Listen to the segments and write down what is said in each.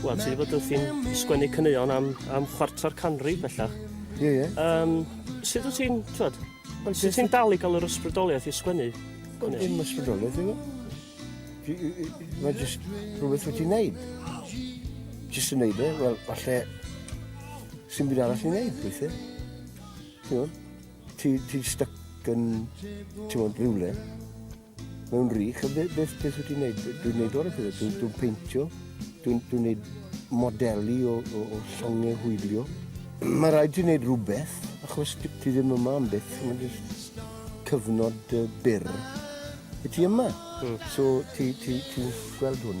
Wel, ti wedi bod wrthi'n sgwennu caneuon am, am chwarter canrif bellach. Ie, ie. Um, sut wyt ti'n, twed, well, sut ti'n dal i gael yr ysbrydoliaeth i sgwennu? Wel, dim ysbrydoliaeth i fi. Mae jyst rhywbeth wyt ti'n neud. Jyst yn neud e, wel, falle, sy'n byd arall i'n neud, weithiau. Ti'n gwybod? Ti'n ti stuck yn, ti'n gwybod, rhywle. mewn rych, a beth, beth, beth wyt ti'n neud? Dwi'n neud o'r pethau, dwi'n dwi peintio, dwi'n dwi neud modelu o, o, o llongau hwylio. Mae rhaid ti'n neud rhywbeth, achos ti ddim yma am beth, mae'n just cyfnod uh, byr. Y ti yma, mm. so ti'n ti, ti gweld hwn.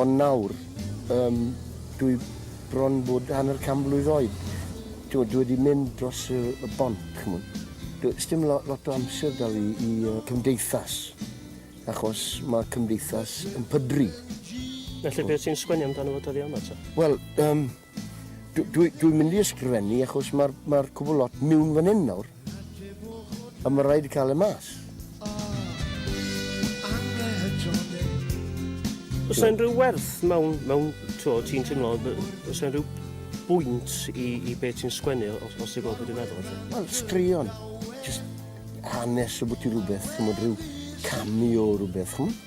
Ond nawr, yym, dwi bron bod hanner can mlwydd oed, t'mod, dwi wedi mynd dros y y bont, ch'mod. Do- sdim lo- lot o amser 'da fi i y cymdeithas, achos ma' cymdeithas yn pydru. Felly be' ti'n sgwennu amdano fo dyddia' yma te? Wel, yym, Dw, dwi, dwi'n mynd i ysgrifennu achos mae'r ma cwbl lot miwn fan hyn nawr. A mae rhaid cael y mas. Os yna rhyw werth mewn, mewn to, ti'n teimlo, os yna rhyw bwynt i, i beth ti'n sgwennu, os, os ti'n gweld beth i'n meddwl? Wel, straeon. Just hanes o bwti rhywbeth, ti'n rhyw cameo o rhywbeth, chymod?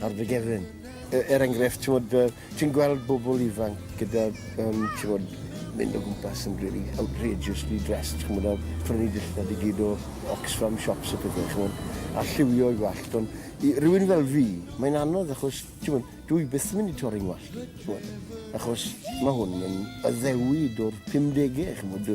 ar dy gefn. E, er enghraifft, ti'n uh, ti gweld bobl ifanc gyda, um, ti'n bod, mynd o gwmpas yn really outrageously dressed, ti'n bod, a prynu dillad i gyd o Oxfam shops a pethau, ti'n bod, a lliwio i gwallt. Ond i rywun fel fi, mae'n anodd achos, ti'n bod, dwi byth yn mynd i torri'n gwallt, ti'n bod, achos mae hwn yn addewid o'r 50au, ti'n bod,